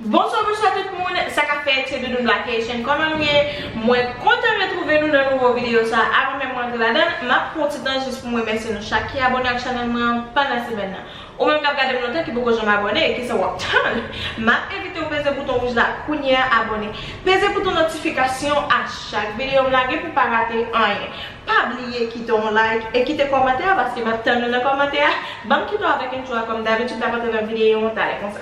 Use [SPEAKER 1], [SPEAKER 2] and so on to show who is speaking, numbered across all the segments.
[SPEAKER 1] Bonswa bonswa tout moun, sa kap fèt se Doudoune Black Haitian kòman nou ye? Mwen kontan retwouve nou nan nouvo videyo sa avan menm mwen antre ladan l, map pran yon ti tan jis pou m remèsye nou chak ki abone ak chanèl mwen an pandan semèn nan. Ou menm kap gadem lontan ki poko janm abòne kisa wap tann map envitew peze bouton wouj la kounyea abòne peze bouton notifikasyon a chak videom lage pou pa rate anyen pa bliye kite yon like e kite kòmantè a paske map tann nou nan kòmantè a banm kite w avèk intro a kòm dabitid lap antre nan videyo an talè konsa.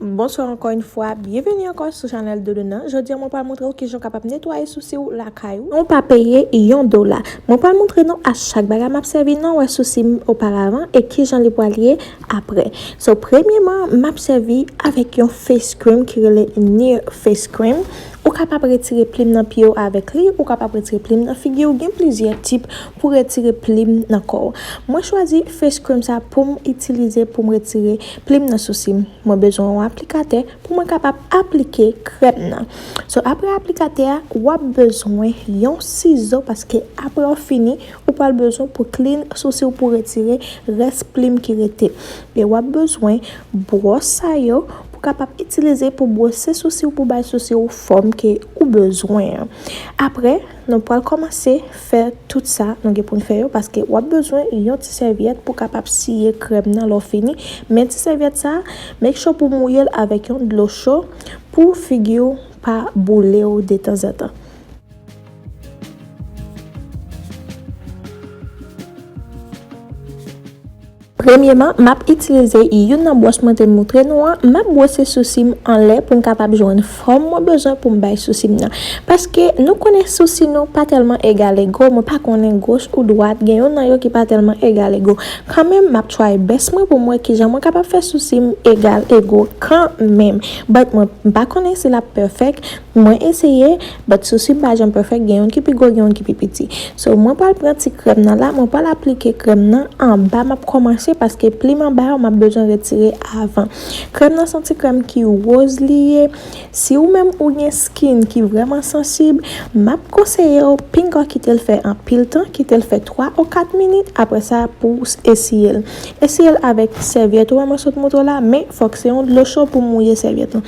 [SPEAKER 1] Bonsoir ankò yn fwa, byenveni ankò sou chanèl Dodo nan, jodi mwen pral montre w kijan w kapab netwaye sousi w lakay ou, san w pa peye yon dola, mwen pral montre nou a chak bagay map sèvi nan wè sousi m oparavan e kijan li pral ye aprè, so premyeman map sèvi avèk yon face cream ki rele Near face cream ou kapab retire plim nan pye w avèk li, ou kapab retire plim nan figi w, gen plizyè tip Pou retire plim nan kò w. Mwen chwazi face cream sa poum itilize poum retire plim nan sousi m. Mwen bezwen yon aplikatè pou mwen kapab aplike krèm nan. So aprè aplikatè a wap bezwen yon sizo paske aprè w fini ou pral bezwen pou clean sousi w pou retire rès plim ki rete. E wap bezwen bwòs sa yo pou kapab itilize pou bwose sousi w pou bay sousi w fòm ke ou bezwen an. Aprè. Nou pwal kòmanse fè tout sa nou gen poun fè yo paske wap bezwen yon ti sèvyèt pou kapab siye krèm nan lè w fini men ti sèvyèt sa make sure pou mouye l avèk yon dlo cho pou figi w pa boule w detanzantan. Premyeman, m ap itilize youn nan bwòs mwen te moutre nou an, m ap bwose sousi m anlè pou m kapab jwenn fòm mwen bezwen pou m bay sousi m nan. Paske nou konnen sousi nou pa tèlman egalego, mwen pa konnen goch ou dwat, gen yon nan yo ki pa tèlman egalego. Kanmenm, m ap try best mwen pou m wè kijan mwen kapab fè sousi m egalego kanmenm. But mwen m pa konnen si l ap perfect. Mwen eseye but souswi m pa janm perfect gen youn ki pi gwo gen youn ki pi piti so mwen pral pran ti krèm nan la mwen pral aplike krèm nan anba map kòmanse paske plim anba yo map bezwen retire avan krèm nan son ti krèm ki woz li ye si ou menm ou gen skin ki vrèman sansib map konseye w pinga kite l fè anpil tan kite l fè 3 ou 4 minit aprè sa pou w esiyel esiyel avèk sèvyèt ou wè mwen sot moutre w la men fòk se yon dlo cho pou mouye sèvyèt lan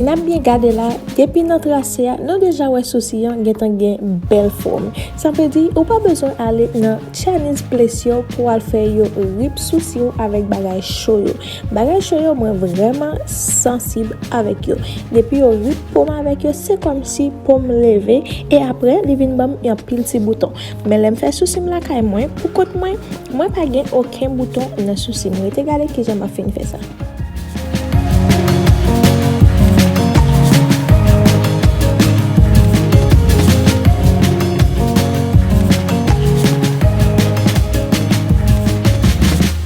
[SPEAKER 1] Nap byen gade la, depi nan trase a, nou deja wè sousi an gentan gen bèl fòm. Sa vle di, ou pa bezwen ale nan Chinese place yo pou al fè yo rip sousi w avèk bagay cho yo. Bagay cho yo mwen vrèman sansib avèk yo depi yo rip pom avèk yo se kòmsi pom leve e aprè li vin banm yon pil ti bouton men lèm fè sousim lakay mwen pou kont mwen mwen pa gen oken bouton nan sousim rete gade kijan map fin fè sa.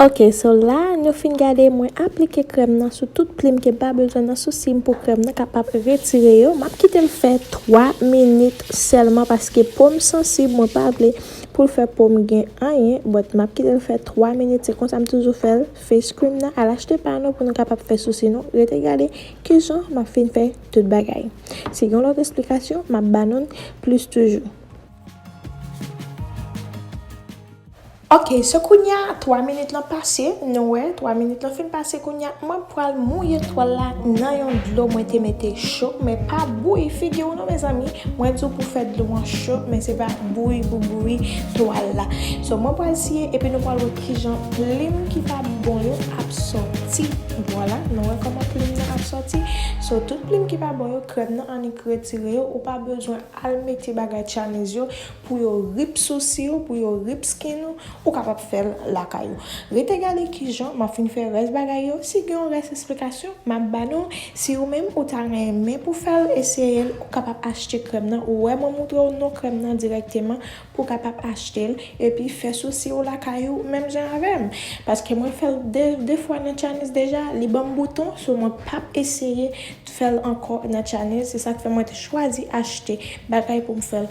[SPEAKER 1] Ok so la nou fin gade mwen aplike krèm nan sou tout plim ke mpa bezwen nan sousim pou krèm nan kapab retire yo map kitel fè 3 minit sèlman paske pom sansib mwen pa vle poul fè pom gen anyen but map kitel fè 3 minit se konsa m toujou fèl face cream nan al achte pa nou pou nou kapab fè sousi nou rete gade kijan map fin fè tout bagay si gen lòt esplikasyon map banoun plis toujou. Ok so kounya 3 minit lan pase nou wè 3 minit lan fin pase kounya mwen pwal mouye twal la nan yon dlo mwen te mete cho men pa bouyi figiw non mezanmi mwen diw pou fè dlo an cho men se pa bouyi pou bouyi twal la so mwen pwal siye epi nou pwal wè kijan plim ki pa bon yo ap sòti vwala nou wè kòman plim nan ap sòti so tout plim ki pa bon yo krèm nan annik retire yo ou pa bezwen al mete bagay tchanez yo Pou yo rip sousi ou, pou yo rip skin ou, ou kapab fè l lakay ou. Rete gade kijan m ap fin fè rès bagay yo, si gen yon rès esplikasyon m ap ba nou, si ou menm ou ta renmen pou fè l, eseye l, ou kapab achte krèm nan, ou wè mwen moutre w non krèm nan dirèkteman pou kapab achte l, epi fè sousi ou lakay ou menm jan avè m. Paske mwen fè l 2 2 fwa nan Tchanniz deja, li ban m bouton, so mwen p ap eseye fè l ankò nan Tchanniz, se sa k fè mwen te chwazi achte bagay pou m fè l.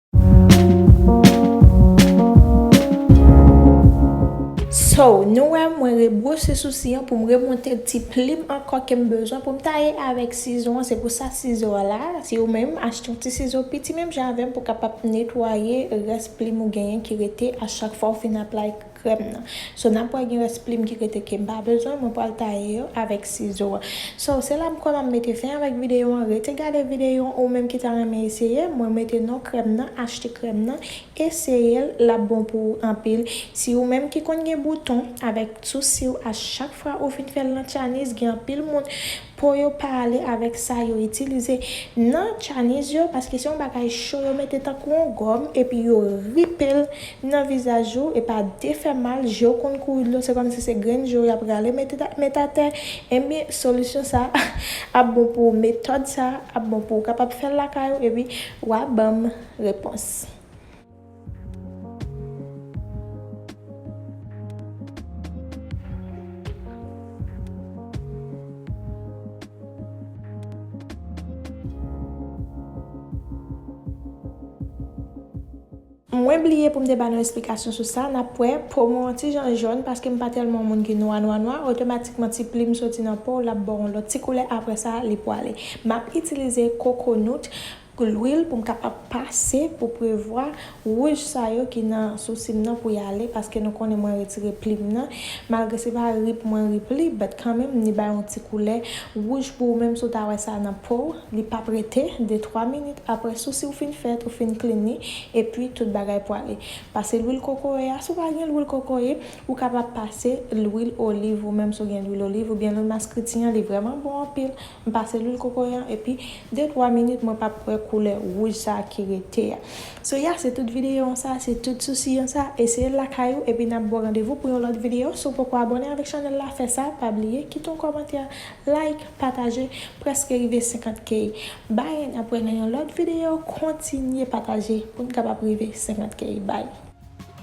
[SPEAKER 1] So, nou wè mwen rebwose sousi an poum remonte ti plim ankò kem bezwen poum taye avèk sizo an se pou sa sizo a la, si ou menm achte yon ti sizo piti menm jan avèm pou kapab netwaye rès plim ou genyen ki rete a chak fwa ou fin aplike. Krèm nan. So nap wè gen rès plim ki rete kem pa bezwen mwen pwal taye yo avèk sizo a. So se la m kwè map mete fen avèk videyo an rete gade videyo an ou menm ki ta renmen eseye mwen mete non krèm nan achte krèm nan eseyel lap bon pou ou anpil si ou menm ki konn gen bouton avèk sousiw a chak fwa ou fin fèl nan tyanis gen anpil moun Po yo pa ale avèk sa yo itilize nan tchaniz yo paske se yon bagay cho yo mete tankou yon gòm epi yo ripe l nan vizaj ou e pa defè mal je w konn kouri dlo se kòmsi se grenn je w y ap rale mete met atè enben solisyon sa ap bon pou ou metòd sa ap bon pou ou kapab fè l lakay ou epi w a ban m repons. Mwen bliye pou m te ba nou esplikasyon sou sa, n ap wè, po mwen on ti jan jòn paske m pa tèlman on moun ki nwa nwa nwa, otomatikman ti plim soti nan po w l ap ba w on lòt ti koulè aprè sa li pwale. M ap itilize kokonout Pou lwil pou m kapab pase pou prevwa wouj sa yo ki nan sousi m nan pou y ale paske nou konnen mwen retire pli m nan malgre se pa rip mwen rip li but kanmenm li bay yon ti koulè wouj pou ou menm si w ta wè sa nan po w li pap rete de twa minit aprè sousi w fin fèt ou fin clean li epi tout bagay pwale pase lwil kokoye a si w pa gen lwil kokoye ou kapab pase lwil oliv ou menm si w gen lwil oliv oubyen lwil maskriti an li vrèman bon anpil. M pase lwil kokoye an epi de twa minit mwen pap k wè koulè wouj sa ki rete a. So ya se tout videyo an sa, se tout sousi an sa, eseye l lakay ou epi nap baw randevou pou yon lòt videyo, si w poko abòne avèk chanèl la fè sa, pa bliye kite yon kòmantè, like, pataje, prèske rive 50 k. Bye nap wè nan yon lòt videyo, kontinye pataje poun kapab rive 50 k bye.